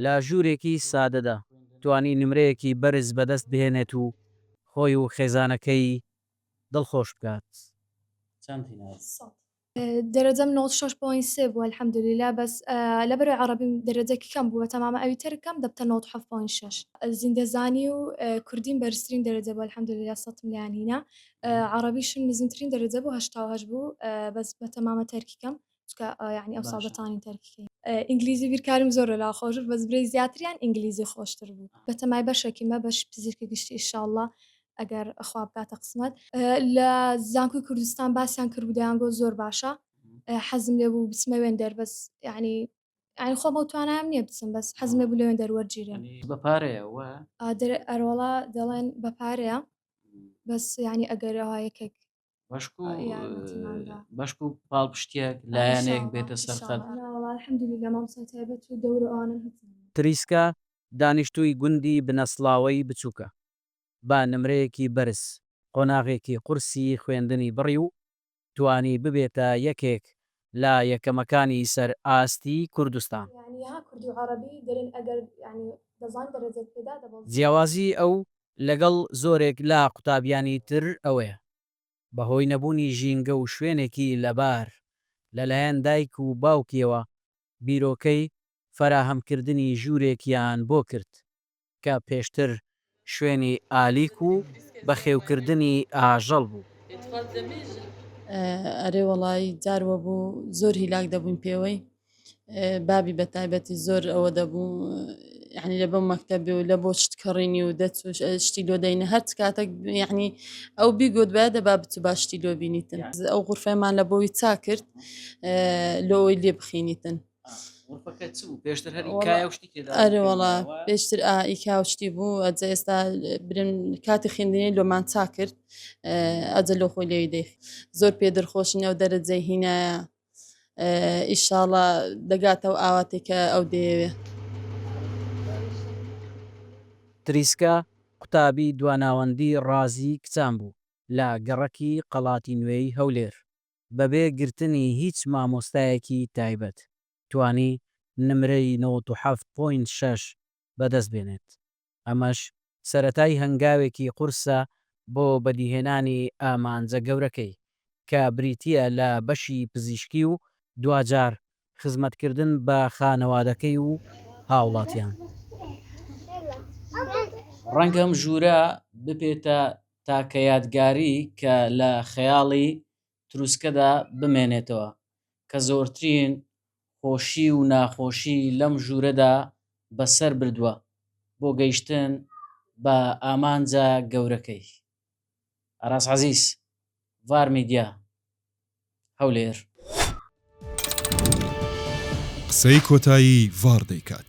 لە ژوورێکی سادەدا توانی نمرەیەکی بەرز بەدەست بهێنێت و خۆی و خێزانەکەی دڵخۆش بکات. دەرەجەم نۆت شەش پۆینت سێ بووە الحمدللە بەس لەبەرەی عەڕەبیم دەرەجەکی کەم بووە تەمامە ئەویتر کەم دەبتە نۆت حەفت پۆینت شەش زیندەزانی و کوردیم بەرزترین دەرەجە بوو الحمدللە سەتم لێیان هینا عەڕەبیشم نزمترین دەرەجە بوو هەشتا و هەشت بوو بەس بە تەمامە تەرکی کەم چکە یعنی ئەو سابەتانی تەرکیکەی ئینگلیزی بیرکارم زۆر لە خۆش بەس برێ زیاتریان ئینگلیزی خۆشتر بوو بەتەمای بەشێکی مە بەش پزیشکی گشتی ئیشاءله ئەگەر ئەخوا بکاتە قسمەت لە زانکوی کوردستان باسیان کرد بدەیان گۆ زۆر باشە حەزم لێ بوو بچمەوێن دەربەس یعنی ئەین خۆ بەو توانام نییە بچم بەس حەزمێ بوو لەوێن دەروەرگیرێن بە پارەیەوە ئەرۆڵا دەڵێن بە پارەیە بەس ینی ئەگەرەوە یەکێک بەشک و بەشک و پاڵپشتێک لایەنێک بێتە سەرخەت تریسکا دانیشتووی گوندی بنەسڵاوەی بچووکە، بە نمرەیەکی بەرز قۆناغێکی قورسی خوێندنی بڕی و توانی ببێتە یەکێک لە یەکەمەکانی سەر ئاستی کوردستان. یانی ها کوردی و عەڕەبی دەرێن ئەگەر یانی دەزان دەرەجەت پێدا دەبەزێ. جیاوازی ئەو لەگەڵ زۆرێک لە قوتابیانی تر ئەوەیە بە هۆی نەبوونی ژینگە و شوێنێکی لەبار لە لایەن دایک و باوکیەوە بیرۆکەی فەراهەمکردنی ژوورێکیان بۆ کرد کە پێشتر شوێنی ئالیک و بەخێوکردنی ئاژەڵ بوو. ئەرێ وەڵایی جار وەبوو زۆر هیلاک دەبووین پێوەی بابی بەتایبەتی زۆر ئەوە دەبوو یعنی لە بەم مەکتەبێ و لە بۆ شت کڕینی و دەچوش شتی لۆ دەینە هەر کاتەک یعنی ئەو بیگوت بە دە با بچ باشتی لۆ بینیتن ئەو غرفەمان لە بۆی چا کرد لۆی لێ بخینیتن ئەرێوەڵا پێشتر ئایکا و شتی بوو ئەجە ئێستا برن کاتی خوێندنی لۆمان چا کرد ئەجە لۆ خۆی لێوی دەیخ زۆر پێ دەرخۆشنە و دەرەجەی هینایە ئیشاڵە دەگاتەوە ئاواتێکە ئەو دەیەوێ تریسکە قوتابی دواناوەندی ڕازی کچان بوو لە گەڕەکی قەڵاتی نوێی هەولێر. بەبێ گرتنی هیچ مامۆستایەکی تایبەت توانی نمرەی نەوەد و حەفت پۆینت شەش بەدەست بێنێت، ئەمەش سەرەتای هەنگاوێکی قورسە بۆ بەدیهێنانی ئامانجە گەورەکەی کە بریتییە لە بەشی پزیشکی و دواجار خزمەتکردن بە خانەوادەکەی و هاوڵاتیان. ڕەنگە ئەم ژوورە ببێتە تاکە یادگاری کە لە خەیاڵی تروسکەدا بمێنێتەوە، کە زۆرترین خۆشی و ناخۆشی لەم ژوورەدا بەسەر بردووە بۆ گەیشتن بە ئامانجە گەورەکەی. ئاراس عەزیز، ڤار میدیا، هەولێر. قسەی کۆتایی ڤاڕ دەیکات.